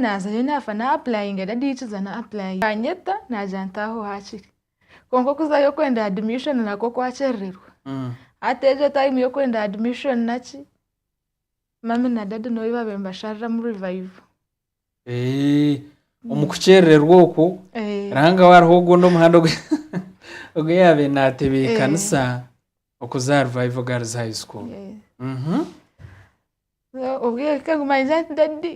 naaza nyowe naafa na apurayinga reediyo yikiza na apurayinga yaanyeta naagira nti aho haakiri kwonka okuzayo okwenda adimishoni nakwo kwakyerererwa hati egyo tayimu y'okwenda adimishoni naki mummy na daadi n'obu baabaire nibashariramu rivayivu Eh, omu kukyerererwa okwo Eh, ranga hariho ogundi omuhanda ogu- ogu yaabaire naatebeekanisa Okuza aha Revival Girls High School. Obwire manyize nti dadi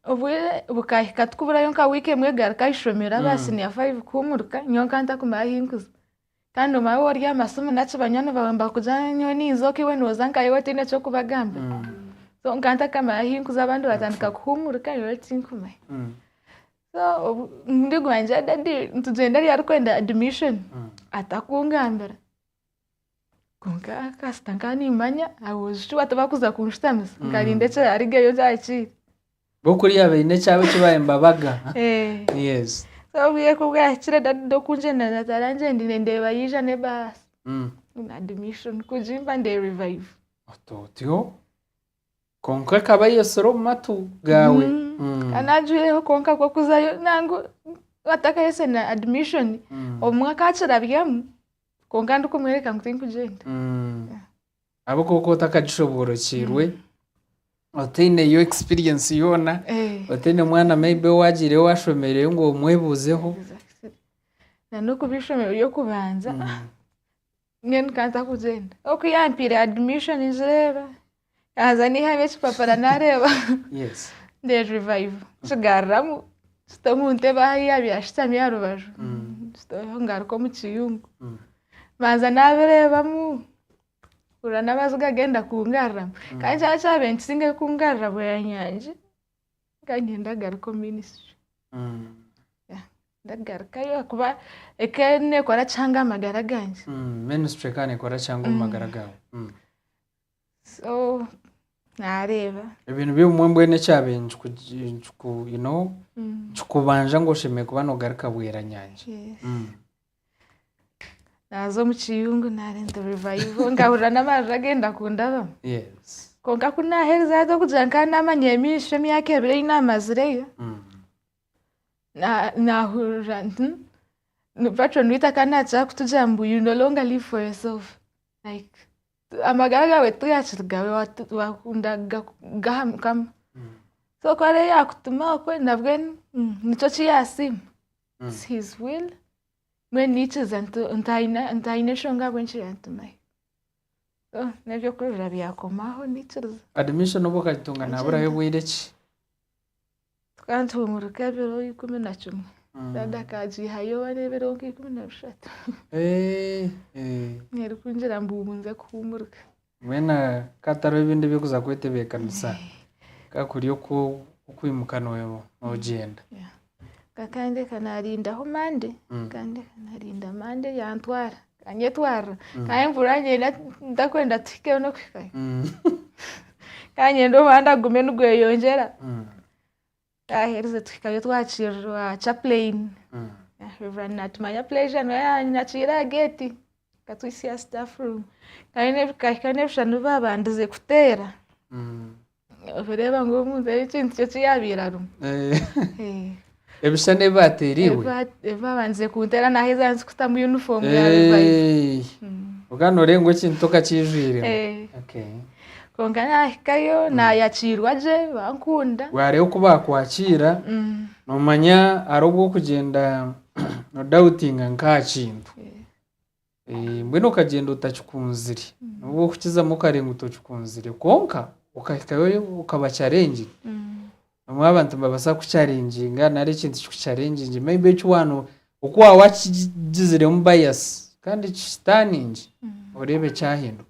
obwire bukahika tukuburayo nka wiiki emwe egaruke aha ishomero aba mm. siniya fayive kuhumuruka nyowe nka ntakumara ahi nkuza kandi omwe abe ori aha masimu naki banywani bawe mbakuza nyowe ninza oku iwe nooza nka iwe otaine eky'okubagamba mm. so nka ntakamara ahi nkuza abandi batandika kuhumuruka nyowe tinkumanya mm. so ndigwangira dadi nitugyenda eri arikwenda admission atakungambira Kwonka kasita nkaba nimmanya aboojo shi batabakuza kunshutamisa nkarinda eki arigeyo nkyakire bo kuriya baine ekyabo eki bahemba baga Eh. yes so obwire ku bwahikire dad okungyenda nazaara ngyendire ndeeba yaija n'ebaasi Mm. na admission kugimpa ndeerivayiva Ota otyo Kwonka ekaba eyetsire omu matu gaawe. Mm. Kandi ajwireho kwonka kw'okuzayo nangu atakayetse na admission Mm. obumwe akakirabyamu kwonka ndikumworeka ngu tinkugyenda. Mm. Yeah. Abe kwonka otakagishoboorokiirwe, otaineyo experience yoona, Eh. otaine mwana maybe owaagiireyo waashomereyo ngu omwebuuzeho. Exactly. Na n'okuba eishomero ry'okubanza, ah, nyowe nkaza kugyenda oku yampaire admission ningireeba yaaza naihamu ekipapura naareeba ndeerivayiva nkigaruramu nzita omu ntebe ahu yaabire ashutami aha rubaju ngaruka omu kiyungu mbanza naabireebamu mpurira n'amaziga genda kungaruramu kandi kyona kyabaire nikisingayo kungarura bweyanyangye Nkanye ndagaruka omu ministry Yeah, ndagarukayo ahakuba eka nekora kihanga aha magara gangye minisitiri kandi ekora cyangwa omu magara gawe Mm. so nareeba ebintu by'obumwe mbwenu ekyabe nkikubanja ngu oshemeye kuba nogaruka bweranyanja Yes. Mm. naaza omu kiyungu naaba into revival nkahurira n'amarira genda kundabamu kwonka ku naaherize hati okugira ngu nkaba naamanya eby'amaisho emyaka ebiri ei naamazireyo na- naahurira nti ni patron waitu akaba naakira kutugira ngu you no longer live for yourself like amagara gaawe tigakiri gaawe watu- waakunda ga- g'aha Mukama so ku ariyo yaakutuma okwe nabwe nikyo ki yaasiima. It's his will. Mbwenu niikiriza nti ntaine ntaine enshonga ahabw'enki yantumayo. So, n'eby'okururira byakomaho niikiriza. Admission obu okagitunga naaburayo Agenda. bwire ki? Tukaba nituhumuruka ebiro ikumi na kimwe. Dad akaagiihayo one ebiro nka ikumi na bishatu. Eh, eh. Erikungira ngu ngu nze kuhumuruka. Mbwenu ka hatariho ebindi eby'okuza kwetebeekanisa, ka kuri okw'okwimuka noogyenda. Nkakandeka naarindaho mande, nkandeka naarinda mande yaantwara, ekanyetwarira. Nkanye mpurira ngyenda ntakwenda tuhikeyo n'okuhikayo. Nkanye ngyenda omuhanda gume nigweyongyera. Twaherize tuhikayo twakirirwa chaplain Reverend Natumanya Pleasure niwe yanyakiire aha gate akatwitsya aha staff room kandi kahika n'ebishushani bi baabandize kuteera oreeba ngu omuntu egi ekintu kye ki yaabaire arimu. Ebishushani ebi baateera iwe? Ebi baabandize kunteera naaheza nzikutamu uniform ya revive. Eey! Konka nooreeba ngu ekintu tokakiijwiremu. Eey. Okay. Kwonka naahikayo naayakiirwa gye bankunda. Waareeba oku baakwakiira, noomanya hariho obu orikugyenda nodaawutinga nk'aha kintu. Mbwenu okagyenda otakikunzire. N'obu orikukizamu okareeba ngu tokikunzire. Kwonka okahikayo okaba carengire. Obumwe abantu nibabaasa kukucarengyinga nari ekintu kikucarengingye maybe eki waaba oku waaba wakigiziremu bias kandi kitaaniingye, oreebe kyahinduka.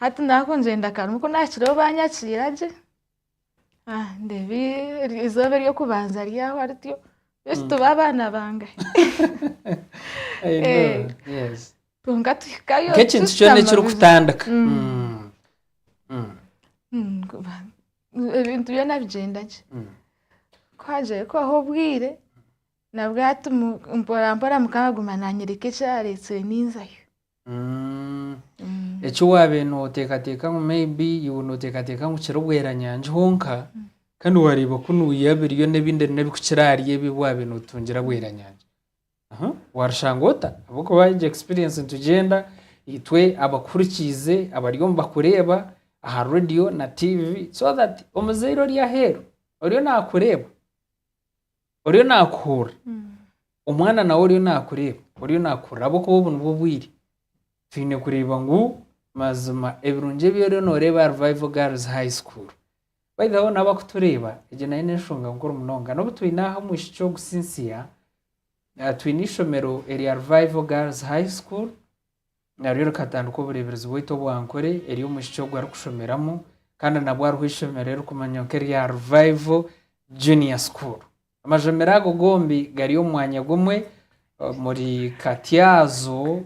Hati naakungyenda akarumu ku naakireho baanyakiira gye. Ah, ndeeba i- eizooba ery'okubanza ryaho arityo. Beitu tuba abaana bangahi? I know, Eh. yes. Kwonka tuhikayo nk'ekintu tushutama kyona bibi. ekirikutandika Mm. Mm. Mm. Mm, kuba- ebintu byona bigyenda gye. Mm. Ku haagiire kuhwaho obwire, nabwo hati mu- mporampora Mukama aguma naanyoreka eki areetsire ninzayo. Eki waabaire nooteekateeka ngu maybe iwe nooteekateeka ngu kiri bweranyangi honka kandi waareeba ku niiwe abiriyo n'ebindi n'ebikukira ahari ebi ebi waabaire nootungira bweranyangi. Aha, Warushanga ota? Ahabw'okuba egyo experience nitugyenda itwe abakuhurikiize, abariyo nibakureeba aha radio na tiivi so that omuzaire ori aheeru oriyo naakureeba. oriyo naakuhurira omwana nawe oriyo naakureeba oriyo naakuhurira ahabw'okuba obu nibwo bwire twine kureeba ngu mazima ebirungi ebi oriyo nooreeba aha Revival Girls High School by the way boona abakutureeba egyo nayo n'enshonga nkuru munonga n'obu twine aha omwishiki ogu Cynthia ah, twine eishomero erya Revival Girls High School Naryo rikatandika obureeberezi bwaitu obwa nkore eri omwishiki ogwo arikushomeramu kandi nabwo hariho eishomero eririkumanywa nk'erya Revival Junior School. Amashomero ago gombi gari omu mwanya gumwe omuri Katyazo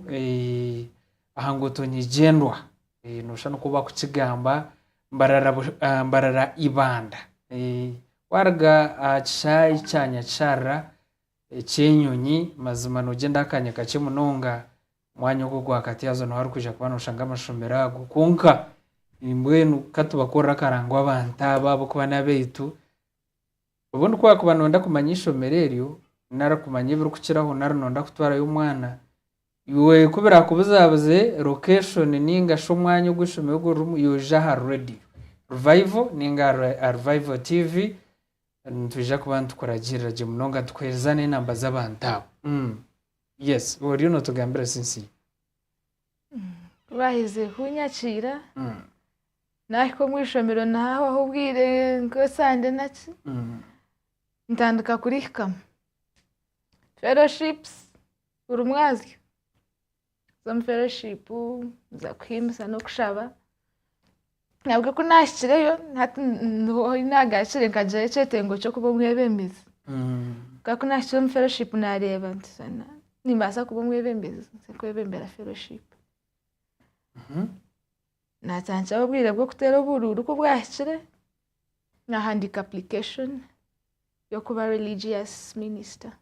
aha nguuto nyigyendwa, noshusha nikwo barikukigamba Mbarara Ibanda. Waaruga aha kishaayi kya Nyakisharara eky'enyonyi mazima noogyenda akaanya kakye munonga mwanya ogwo gwakati haza nuho arikwija kuba noshanga amashomero ago kwonka mbwenu katubakorere akarango abantu abo ahabw'okuba n'abaitu obundi ku wakuba noyenda kumanya eishomero eryo nari kumanya ebirikukiraho nari noyenda kutwarayo omwana iwe ku birakubuzabuze location ninga shi omwanya ogu eishomero eryo ririmu yoyija aha radio Revival ninga aha Revival TV nitwija kuba nitukuragirira gye munonga nitukuhereza n'enamba z'abantu abo. Yes oriyo notugambira sinsi. Kubaherize kunyakiira nahika omu ishomero nahahwaho obwire nka sande naki ntandika kurihikamu. Fellowships buri mwazyo nza omu fellowship nza kuhimbisa n'okushaba. Ahabw'okuba ku naahikireyo, hati niho hi naagaakire nkagyayo ekyetengo ky'okuba omwebembezi. Nka ku naahikire omu fellowship naareeba nti "Sana, nimbaasa kuba omwebembezi, nze kwebembera fellowship. Naatandikiraho obwire bw'okuteera oburuuru ku bwahikire, naahandiika application y'okuba religious minister.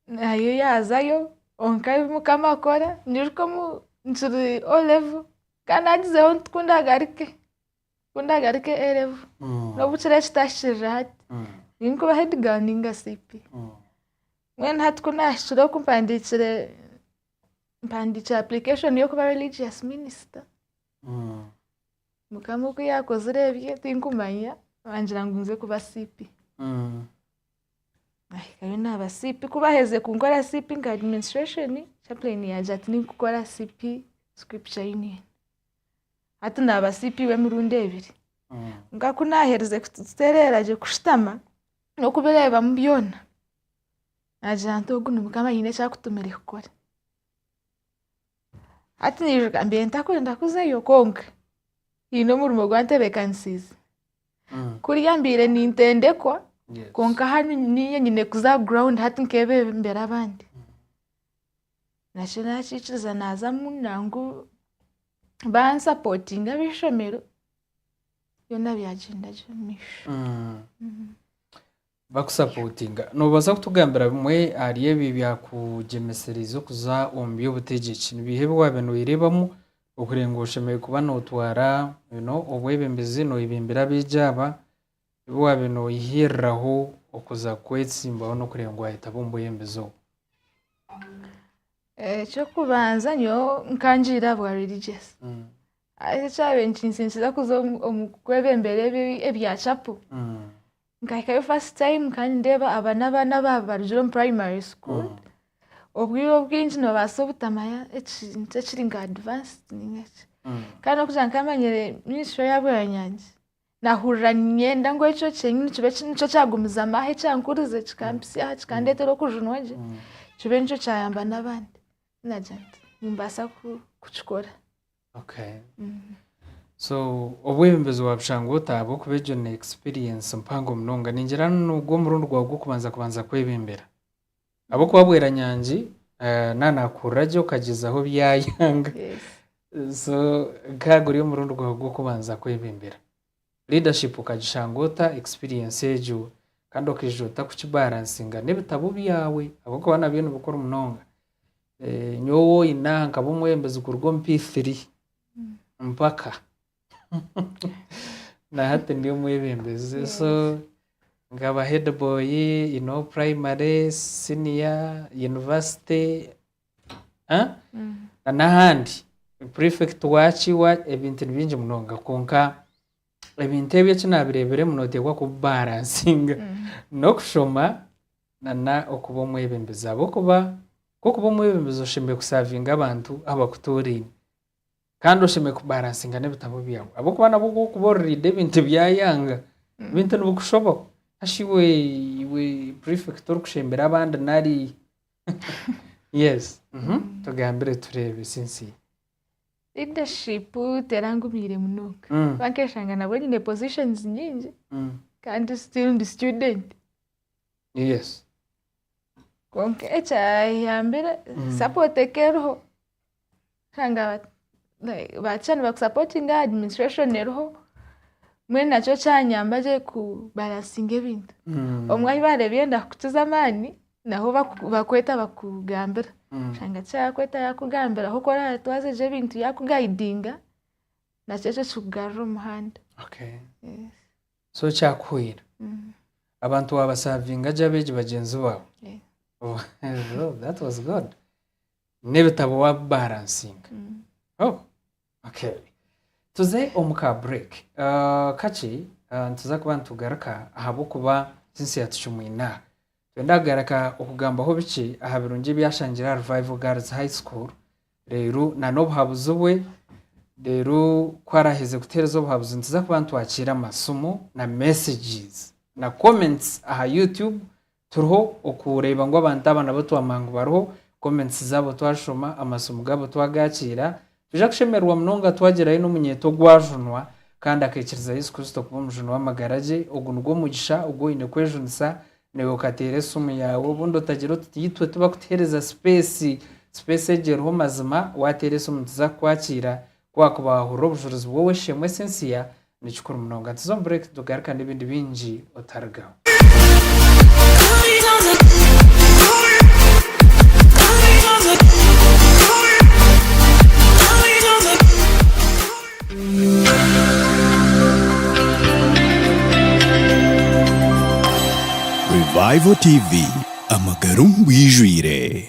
Nayo yaazayo kwonka ebi mukama akora nyiruka omu nkiri o levo kandi naagizeho nti ku ndagaruke ku ndagaruke a levo n'obu kiri ekitahikirire hati nyine kuba hedi gaali nainga siipi mbwenu hati ku naahikire oku mpandiikire mpandiikire apurikashoni y'okuba rilijiyasi minisita mukama oku yaakozire ebye tirikumanya naagira ngu nze kuba siipi. Nahikayo naaba CP. Ku baaherize kunkora CP nka administration, chaplain yangye ati ninkukora CP Scripture Union. Hati naaba CP w'emirundi ebiri. Nka ku naaherize kutereera gye kushutama n'okubireebamu byona, naagira nti ogu ni Mukama aine eki akutumire kukora. Hati niijuka mbiire ntakwenda kuzayo kwonka hiine omurimo ogu antebeekanisiize. Kuriya mbaire nintendekwa kwonka hanu niinye nyine kuza aha ground hati nkebembera abandi. Nakyo naakikiriza naazamu nangwa bansapotinge ab'eishomero, byona byagyenda gye omumaisho. Bakusapotinga. Noobaasa kutugambira bimwe ahari ebi ebyakugyemesereize okuza omu by'obutegyeki? Ni biiha ebi waabaire nooyereebamu ohurire ngu oshemereire kuba nootwara obwebembezi, nooyebimbira abeegi aba? Ebi waabaire nooyehiiriraho okuza kwetsimbaho n'okureeba ngu waayetaba omu bwebembezi obu? Eky'okubanza nyowe nkangiire aha bwa religious, haza ekyabaire nikinsindikiza kuza omu kwebembera ebya chapel, Nkahikayo first time kandi ndeeba aba n'abaana abaaba barugire omu primary school. Obwire obwingi noobaasa obutamanya ekintu ekiri nka advanced nainga ki. Kandi n'okugira nkamanyire nyinshi we yaaba yanyangye. Naahurira niinyenda ngu ekyo kyenyini kibe ki- nikyo kyagumizamu aha ekyankurize kikampisya aha kikandeetera okujunwa gye. Kibe nikyo kyayamba n'abandi. Naagira nti nimbaasa ku- kukikora. Okay. So obwebembezi wa Bushanga ota ahabw'okuba egyo ni experience mpango munonga. Ningira nigwo omurundi gwawe gw'okubanza kubanza kwebembera. Ahabw'okuba Bweranyangi eh, na naakuhurira gye okagyezaho byayanga. Yes. So nk'aha guri omurundi gwawe gw'okubanza kwebembera. Leadership okagishanga ota experience egyo kandi okaijuza ota kuki balancinga n'ebitabo byawe ahabw'okuba nabyo ni bikuru munonga. Nyowe owu oyine aha nkaba omwebembezi kuruga omu P3 mpaka na hati ndi omwebembezi. So nkaba head boy in all primary, senior, university. Ah? na n'ahandi prefect waki wa ebintu ni bingi munonga kwonka ebintu ebyo eki nabireeberemu nooteekwa kubibaransinga n'okushoma na na okuba omwebembezi ahabw'okuba kw'okuba omwebembezi oshemereire kusavinga abantu abakutoraine kandi oshemereire kubaransinga n'ebitabo byawe ahabw'okuba nabwo ku orikuba oririida ebintu bya Yanga ebintu nibikushobaho. Ashi iwe iwe prefect orikushembera abandi nari yes mhm, tugambire tureebe sinsi Leadership terangumiire munonga Mm. kuba nkeshanga nabwo nyine positions nyingi Mm, kandi still ndi student yes kwonka ekyayambire support eka eriho Kanga ba ba teacher nibakusapotinga administration eriho mbwenu nakyo kyanyamba gye ku balansinga ebintu obumwe ahu baareeba orenda kukiza amaani naho baku bakweta bakugambira oshanga teacher yaakweta yaakugambira ahu oratwaze gye ebintu yaakugayidinga nakyo ekyo kikugarura omu muhanda Okay. Yes. So kyakuhwera. Mm. Abantu waabasavinga gye abeegi bagyenzi baawe. Yeah. Oh, that was good. N'ebitabo wabi balansinga. Oh, okay. Tuze omu ka break uh, kakye uh, nituza kuba nitugaruka ahabw'okuba sinsi yatucumwine aha. Twenda kugaruka okugambaho bikye aha birungi ebyashangire aha Revival Girls High School reero na n'obuhabuzi bwe reero ku araheze kuteereza obuhabuzi nituza kuba nitwakiira amasimu na messages na comments aha YouTube Turiho okureeba ngu abantu aba nabo twamanya ngu bariho, comments zaabo twazishoma, amasimu gaabo twagaakiira. Twija kushemererwa munonga twagirayo n'omunyeeto ogwajunwa kandi akeikiriza Yesu Kristo kuba Omujuni w'amagara gye. Ogu nigwo mugisha ogu oine kwejunisa naiwe okateera esimu yaawe obundi otagire oti tiitwe tibakutuheereza sipeesi. Sipeesi egyo eriho mazima, waateera esimu nituza kukwakiira. Ku waakuba waahurira obujurizi bw'ow'eishe-emwe Cynthia, Ni kikuru munonga. Nituza omu break tugaruka n'ebindi bingi otarigaho. Revival TV, amagara omu bwijwire.